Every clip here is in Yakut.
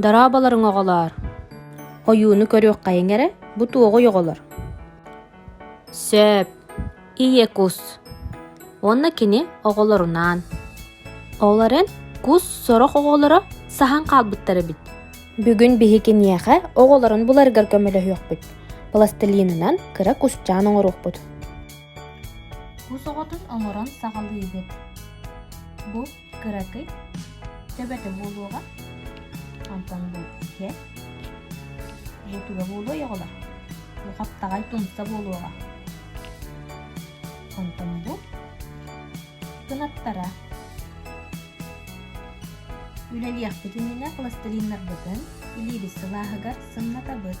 Дорооболоруҥ оҕолоор! Ойууну көрүөххэйиҥ эрэ, бу туоҕуй оҕолор. Сөп. Ийэ кус. Уонна кини оҕолорунаан. Ол эрэн, кус сорох оҕолоро саһан хаалбыттар эбит. Бүгүн биһи киниэхэ оҕолорун буларыгар көмөлөһүөхпүт. Пластилинынан кыра кусчаан оҥоруохпут. Кус оҕотун оҥорон саҕалыыгын. Бу кыракый, төбөтө буолуоҕа. Онтон бу иһэ. Бутуга буолуой оҕолор. Бу хаптаҕай тумса буолуоҕа. Онтон бу кынаттара. Үлэлиэхпит иннинэ пластилиннарбытын, илиибит сылааһыгар сымнатабыт.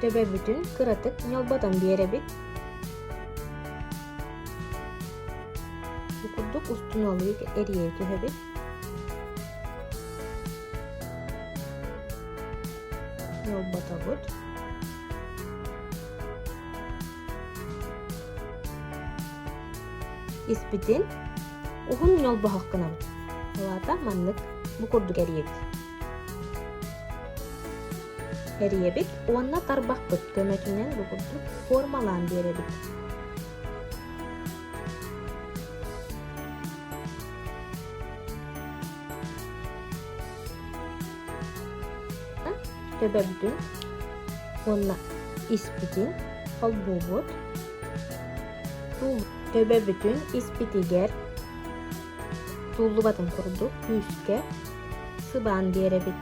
Төбөбүтүн кыратык ньылбатан биэрэбит. Бу курдук устуналык эрийэ түһэбит. Ньылбатабыт. Испитин уһун ньолбоһох гынабыт. Алаата маннык бу курдук эрийэбит. Эриэбит уонна тарбахпыт көмөтүнэн бу курдук формалаан биэрэбит. төбөбүтүн уонна испитин холбуубут. Төбөбүтүн испитигэр тууллубатын курдук күүскэ сыбаан биэрэбит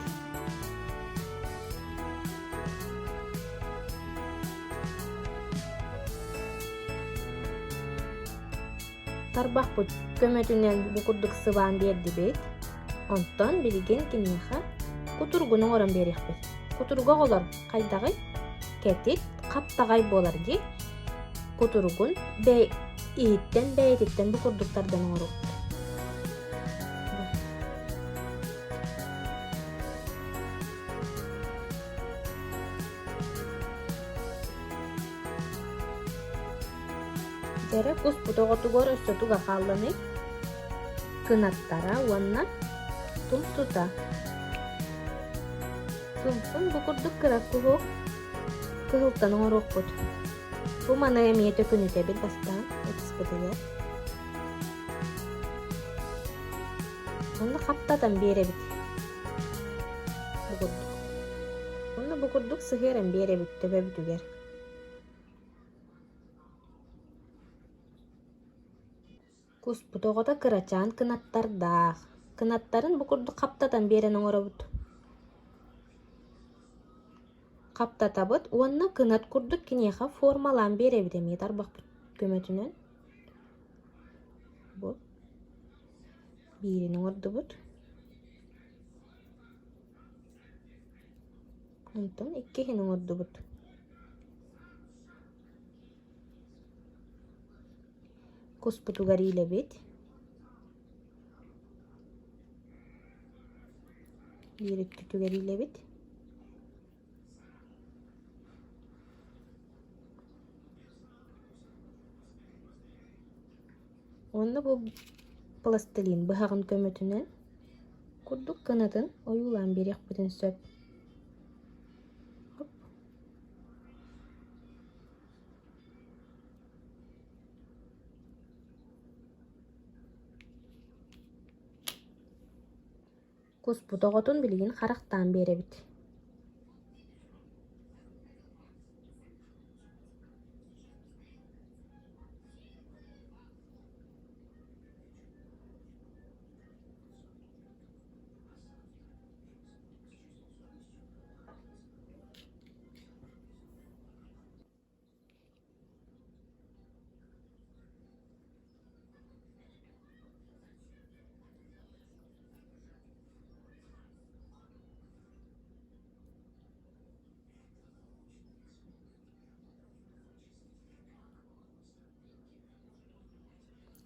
тарбахпыт көмөтүнэн бу курдук сыбаан биэрдибит онтон билигин киниэхэ кутургуну оҥорон биэриэхпит кутурга оҕолор хайдаҕый кэтит хаптаҕай буолар дии Кутуругун бэй иһиттэн бэйэтиттэн бу курдук тардан оҥорубут. Бэрэ куспут оҕотугар өссө туга хаалланый? Кынаттара уонна тум тута. Тумпун бу курдук кырак куһуок кыһылтан оҥоруохпут бу маны эмиэ төкүнүтэбил бастаан ытыспытыгар онно хаптатан биэрэбит бу курдук онно бу курдук сыһыаран биэрэбит төбөбүтүгэр Куспут оҕото кырачаан кынаттардаах, кынаттарын бу курдук хаптатан биэрэн оҥоробут хаптатабыт уонна кынат курдук киниэхэ формалаан биэрэбит эмиэ тарбахпыт көмөтүнэн. Бу биирин оҥордубут. Онтон иккиһин оҥордубут. Куспутугар иилэбит, иириккитигэр иилэбит уонна бу пластилин быһаҕын көмөтүнэн курдук кынатын ойуулаан биэриэхпитин сөп Куспут оҕотун билигин харахтаан биэрэбит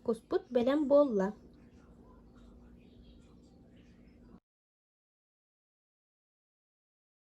Куспут бэлэм буолла